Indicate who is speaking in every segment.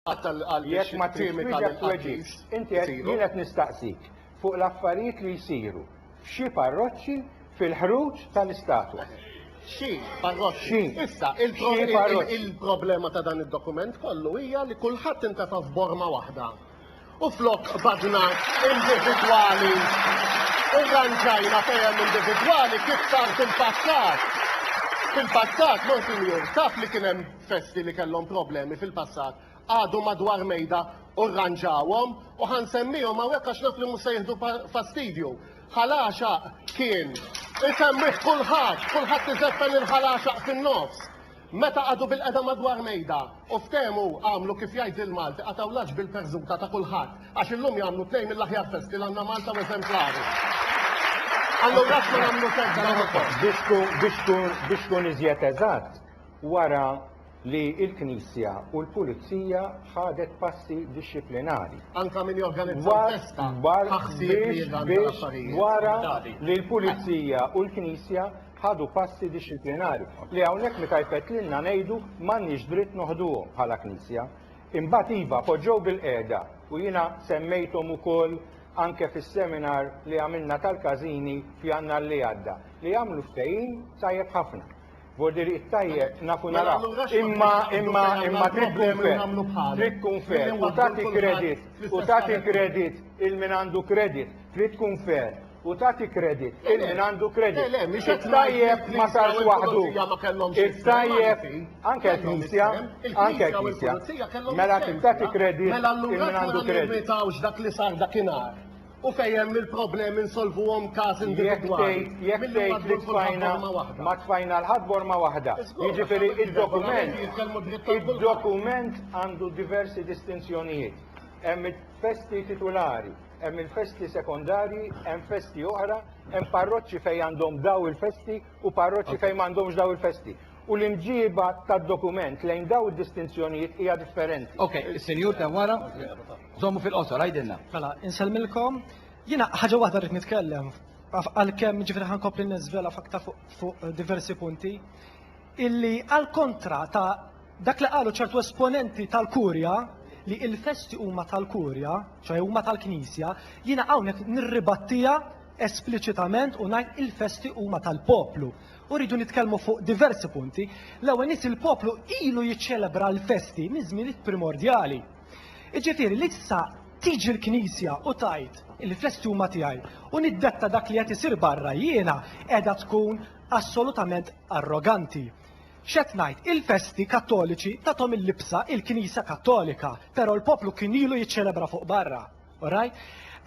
Speaker 1: Jekk ma tridx twieġeb tweġibx. Inti qed, jien qed nistaqsik fuq l-affarijiet li jsiru f'xi parroċċi fil-ħruġ tal-istatwa. Xi
Speaker 2: parroċċi. Issa, il-problema ta' dan id-dokument kollu hija li kulħadd intefa' f'borma waħda. U flok badnat individwali, irranġajna fejem individwali kif sar fil-passat. Fil-passat, Monsignor, taf li kien hemm festi li kellhom problemi fil-passat qagħdu madwar mejda u rranġawhom u ħa nsemmihom hawnhekk għax naf li mhux se jieħdu fastidju. Ħalaxaq kien isemmih kulħadd, kulħadd iżeffen il-ħalaxaq fin-nofs. Meta qagħdu bil-qeda madwar mejda u ftehmu għamlu kif jgħid il-Malti qatgħu l-għaġ bil-perżuta ta' kulħadd għax illum jagħmlu tnejn mill-aħjar festi li għandna Malta u eżemplari. Allura x'ma nagħmlu festa l-oħra.
Speaker 1: Biex tkun iżjed eżatt, wara li l-Knisja u l-Pulizija ħadet passi dixxiplinari. Anka min
Speaker 2: jorganizza l-festa ħa ħsieb li jirranġa l-affarijiet.
Speaker 1: Wara li l-Pulizija u l-Knisja ħadu passi dixxiplinari li hawnhekk meta jfettlilna ngħidu m'għandniex dritt noħduhom bħala Knisja. Imbagħad iva poġġew bil-qiegħda u jiena semmejthom ukoll anke fis-seminar li għamilna tal-każini f'Jannar li għadda li għamlu ftehim tajjeb ħafna. Bordieri it-tajjeb naf u nara, imma imma imma trid tkun fair, trid tkun fair u tagħti kredit u tagħti kredit il min għandu kredit, trid tkun fair u tagħti kredit il min għandu kredit. It-tajjeb ma sarx waħdu. It-tajjeb anke l-Knisja, anke l-Knisja. Mela trid tagħti kredit il min għandu kredit. Mela allura aħna nirritaw x'dak li sar
Speaker 2: dakinhar. U fejn hemm il-problemi nsolvuhom każ individwali. Jekk tgħid jekk tgħid li
Speaker 1: tfajna ma tfajna l-ħadd b'orma waħda. Jiġifieri id-dokument id-dokument għandu diversi distinzjonijiet. Hemm il-festi titulari, hemm il-festi sekondarji, hemm festi oħra, hemm parroċċi fejn għandhom daw il-festi u parroċċi fejn m'għandhomx daw il-festi. U l-imġiba tad-dokument lejn daw id-distinzjonijiet hija differenti. Ok, is-senjur ta'
Speaker 3: wara. Żommu fil-qosor, għidilna. Mela, insellmilkom.
Speaker 4: Jiena ħaġa waħda rrid nitkellem għalkemm ġifieri ħankompli niżvela f'aktar fuq diversi punti illi għal kontra ta' dak li qalu ċertu esponenti tal-Kurja li il-festi huma tal-Kurja, ċoħe huma tal-Knisja, jiena hawnhekk nirribattija espliċitament u ngħid il-festi huma tal-poplu. U rridu nitkellmu fuq diversi punti. L-ewwel nies il-poplu ilu jiċċelebra l-festi minn żmien primordjali. Jiġifieri li issa tiġi l-Knisja u tgħid li festi huma tiegħi u niddetta dak li qed isir barra jiena qiegħda tkun assolutament arroganti. X'qed ngħid? Il-festi Kattoliċi tathom il-libsa il-Knisja Kattolika, però l-poplu kien ilu jiċċelebra fuq barra. Alright?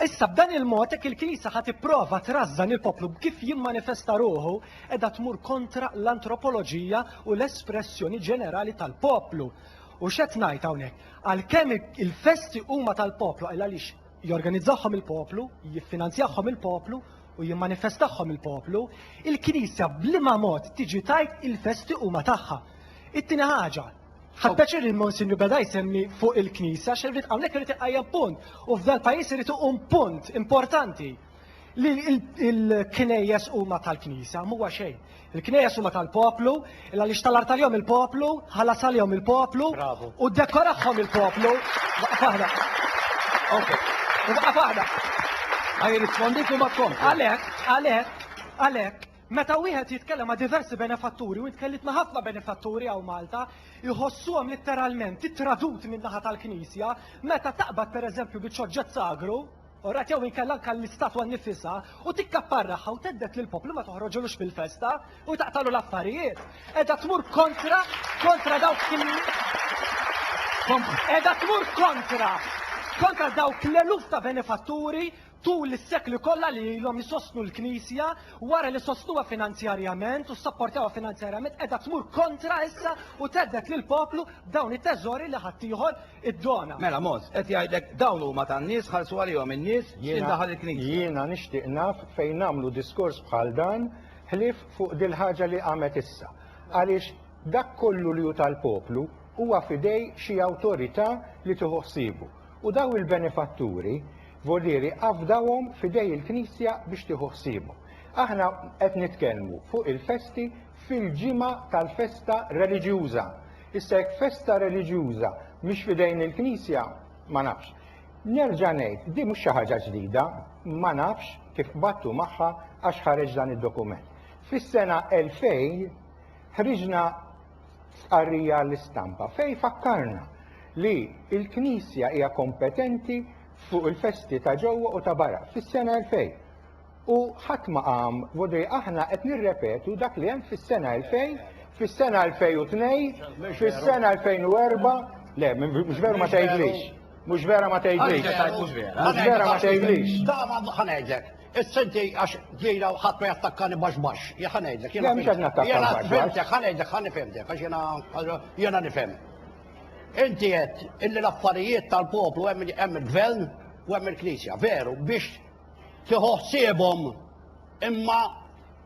Speaker 4: Issa b'dan il-mod hekk il-Knisja ħa tipprova trażżan il-poplu b'kif jimmanifesta ruħu qiegħda tmur kontra l-antropoloġija u l-espressjoni ġenerali tal-poplu. U x'qed ngħid hawnhekk? Għalkemm il-festi huma tal-poplu għal għaliex jorganizzahom il-poplu, jiffinanzjahom il-poplu u jimmanifestahom il-poplu, il-Knisja b'liema mod tiġi tajt il-festi huma tagħha. It-tieni ħaġa, Ħadd pjaċir li Monsinju beda jsemmi fuq il-Knisa, xirrid hawnhekk irid iqajjem punt. U f'dal pajjiż irid iqum punt importanti li l-knejjes huma tal-Knisa, mhuwa xejn. Il-knejjes huma tal-poplu, il għaliex tal artaljom il-poplu, ħalas għalihom il-poplu, u dekorahom il-poplu.
Speaker 3: Għalek, għalek, għalek,
Speaker 4: Meta wieħed jitkellem ma' diversi benefatturi, u int tkellimt ma' ħafna benefatturi hawn Malta, iħossuhom litteralment ittradut min-naħa tal-Knisja, meta taqbad pereżempju bi ċoġġett sagru, alright, jew inkella anke l-istatwa nnifisha, u tikkapparrahha u thedded lill-poplu ma toħroġulux fil-festa, u taqtagħlu l-affarijiet. Qiegħda tmur kontra, kontra dawk qiegħda tmur kontra, kontra dawk l-eluf ta' benefatturi, Tul is-sekli kollha li ilhom isostnu l-Knisja, wara li sostnuha finanzjarjament u ssapportawha finanzjarjament, qiegħda tmur kontra issa u thedded lill-poplu b'dawn it-teżori li ħaddieħor iddona. Mela Mons. Qed
Speaker 3: jgħidlek dawn huma tan-nies, ħallsu għalihom in-nies, x'ħin daħal il-Knisja? Jiena nixtieq naf
Speaker 1: fejn nagħmlu diskors bħal dan ħlief fuq dil-ħaġa li qamet issa. Għaliex dak kollu li hu tal-poplu huwa f'idej xi awtorità li tieħu ħsiebu. U daw il-benefatturi Volieri afdawhom f'idej il-Knisja biex tieħu ħsiebhom. Aħna qed nitkellmu fuq il-festi fil-ġimgħa tal-festa reliġjuża. Issa jekk festa reliġjuża mhix f'idejn il-Knisja, ma nafx. Nerġa' ngħid, din mhux xi ħaġa ġdida, ma nafx kif qbadtu magħha għax ħareġ dan id-dokument. Fis-sena 2000 ħriġna stqarrija għall-istampa fejn fakkarna li l-Knisja hija kompetenti fuq il-festi ta' ġewwa u ta' barra fis-sena 2000. U ħadd ma qam vodri aħna qed nirrepetu dak li hemm fis-sena 2000, fis-sena 2002, fis-sena 2004, le mhux veru ma tgħidlix. Mhux vera ma tgħidlix. Mhux vera ma tgħidlix. Ħa ngħidlek.
Speaker 5: Is-senti għax jiena ħadd ma jattakkani baxx baxx, jien ħa ngħidlek, jiena Le, mhux qed nattakka jiena
Speaker 1: baxx baxx. fhimtek, ħa ngħidlek, ħa nifhimtek,
Speaker 5: għax jiena jiena nifhem. Inti qed illi l-affarijiet tal-poplu hemm il- hemm il-gvern u hemm il-Knisja, veru, biex tieħu ħsiebhom imma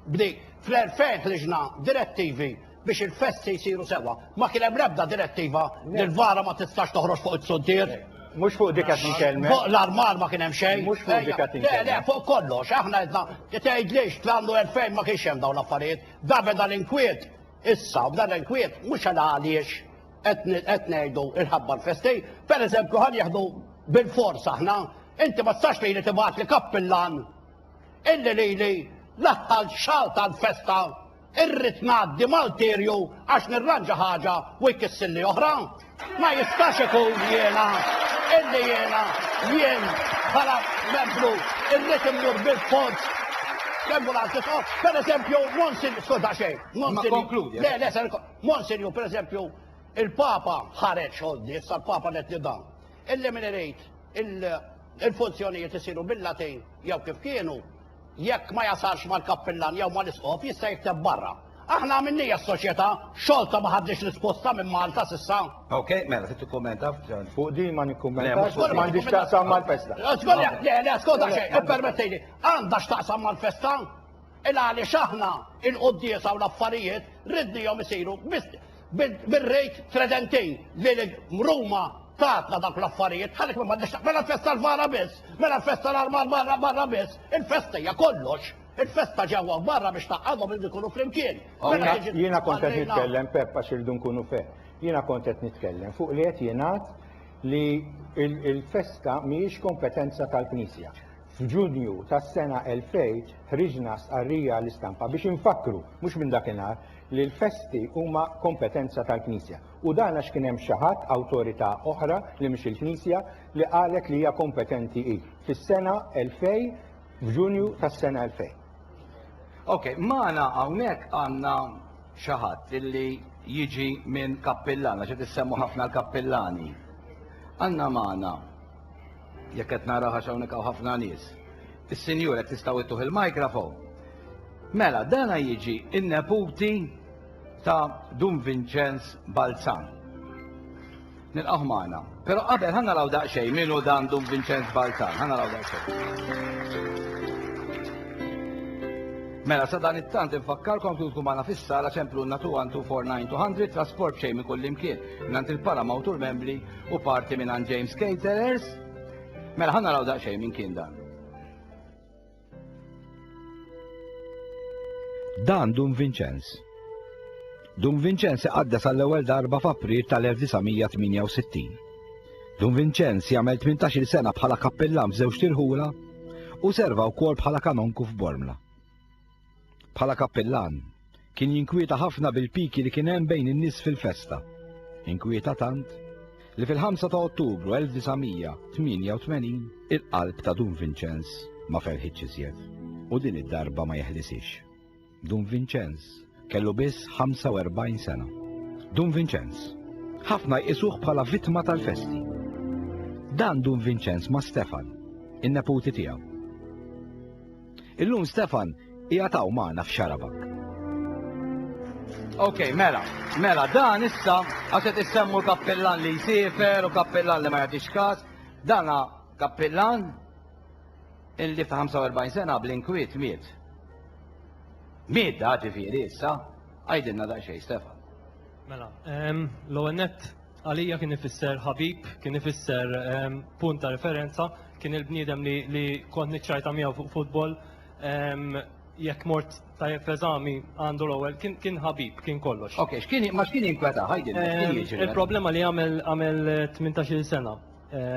Speaker 5: B'di, fl-2000 ħriġna direttivi biex il-festi jsiru sewwa. Ma kien hemm l-ebda direttiva li l-vara ma tistax toħroġ fuq is-suntier. Mhux fuq dik qed
Speaker 1: nitkellem. Fuq l-armar ma kien
Speaker 5: hemm xejn. Mhux fuq dik qed nitkellem.
Speaker 1: Le, le, fuq kollox. Aħna
Speaker 5: għedna, tgħidlix fl-annu 2000 ma kienx hemm dawn l-affarijiet. Da beda l-inkwiet. Issa, bda l-inkwiet, mhux għal għaliex qed ngħidu l-ħabba l-festi. Pereżempju, ħa nieħdu bil-fors aħna, inti ma tistax lili tibgħatli kappillan Illi lili l-aħħar xahar tal-festa irrid ngħaddi Malterju għax nirranġa ħaġa u jkissilli oħra. Ma jistax ikun jiena illi jiena jien bħala membru irrid immur bil-fond kemm u l-għalti so, per eżempju, Monsin, skoda xej, Monsin. Le, le, ser, Monsin, ju, per eżempju, il-Papa ħareċ għoddi, sa' l-Papa net li dan. Illi min irid il-funzjonijiet isiru bil-Latin jew kif kienu, jekk ma jasalx mal-kappillan jew mal-isqof jista' jikteb barra. Aħna għamilniha s-Soċjetà, xorta ma ħadniex risposta minn Malta s'issa. Ok, mela trid
Speaker 3: tikkummenta fuq din? Ma
Speaker 1: nikkummentax, m'għandhiex x'taqsam mal-festa. Le, le, askolta
Speaker 5: xejn, ippermettili, għandha x'taqsam mal-festa? Il-għaliex aħna il-quddiesa u l-affarijiet ridnihom isiru Bir-rejt tredentejn li l-mruma tatna dak l-affarijiet, ħalek ma mandex mela festa l-vara biss, mela festa l-armar barra barra biss, il-festa hija kollox. Il-festa ġewwa barra biex taqgħadhom li jkunu flimkien. Mela jiena kont
Speaker 1: qed nitkellem Peppa xirdu nkunu fe. Jiena kont qed nitkellem fuq li qed jingħad li il-festa mhijiex kompetenza tal-Knisja. F'Ġunju tas-sena 2000 ħriġna stqarrija għall-istampa biex infakkru, mhux minn dakinhar, li l-festi huma kompetenza tal-Knisja. U dan għax kien hemm xi ħadd, awtorità oħra li mhix il-Knisja, li qalet li hija kompetenti hi. Fis-sena 2000, f'Ġunju tas-sena 2000. Ok,
Speaker 3: magħna hawnhekk għandna xi ħadd li jiġi minn kappillan, għax qed issemmu ħafna l-kappillani. Għandna magħna Jekk qed nara għax hawnhekk hawn ħafna nies. Is-Sinjur qed tistgħu ittuh il-mikrofon. Mela, dana jiġi in-neputi ta' Dun Vinċenz Balzan. Nilqaħ magħna. Però qabel ħanna naraw daqsxejn minu dan Dun Vinċenz Balzan, ħanna naraw daqsxejn. Mela, sa dan it-tant infakkarkom kif tkun magħna fis-sala ċemplu n-natu 249 trasport xejn minn kull imkien. Nant il-para mawtur membri u parti minn James Caterers. Mela ħanna raw daqsxejn minn kien dan.
Speaker 6: Dan Dun Vincenz. Dun Vincenz iqaddes għall-ewwel darba f'April tal-1968. Dun Vincenz jagħmel 18-il sena bħala kappellan f'żewġ tirħula u serva wkoll bħala kanonku f'Bormla. Bħala kappillan, kien jinkwieta ħafna bil-piki li kien hemm bejn in-nies fil-festa. Inkwieta tant li fil-5 ta' Ottubru 1988 il-qalb ta' Dun Vinċenz ma ferħitx iżjed u din id-darba ma jeħlisix. Dun Vinċenz kellu biss 45 sena. Dun Vinċenz, ħafna jqisuh bħala vittma tal-festi. Dan Dun Vinċenz ma' Stefan, in-neputi tiegħu. Illum Stefan qiegħed hawn magħna f'Xarabak.
Speaker 3: Ok, mela, mela, dan issa, għaxet issemmu kappillan li jisifer u kappillan li ma jagħtix kas, dana kappillan illi fi 45 sena bl-inkwiet miet. Miet da ġifiri issa, għajdinna da xej, Stefan. Mela,
Speaker 7: l-għonet Għalija kien ifisser ħabib, kien ifisser ehm, punt ta' referenza, kien il-bniedem li, li kont niċċajta miegħu fuq futbol, ehm, jekk mort tajjeb f'eżami għandu l-ewwel, kien, kien ħabib, kien kollox. Ok, x'kien ma x'kien
Speaker 3: jinkweta, ħajdilna, x'kien
Speaker 7: Ehm, jiġri?
Speaker 3: il-problema
Speaker 7: li
Speaker 3: għamel
Speaker 7: għamel
Speaker 3: 18-il sena.
Speaker 7: Ehm,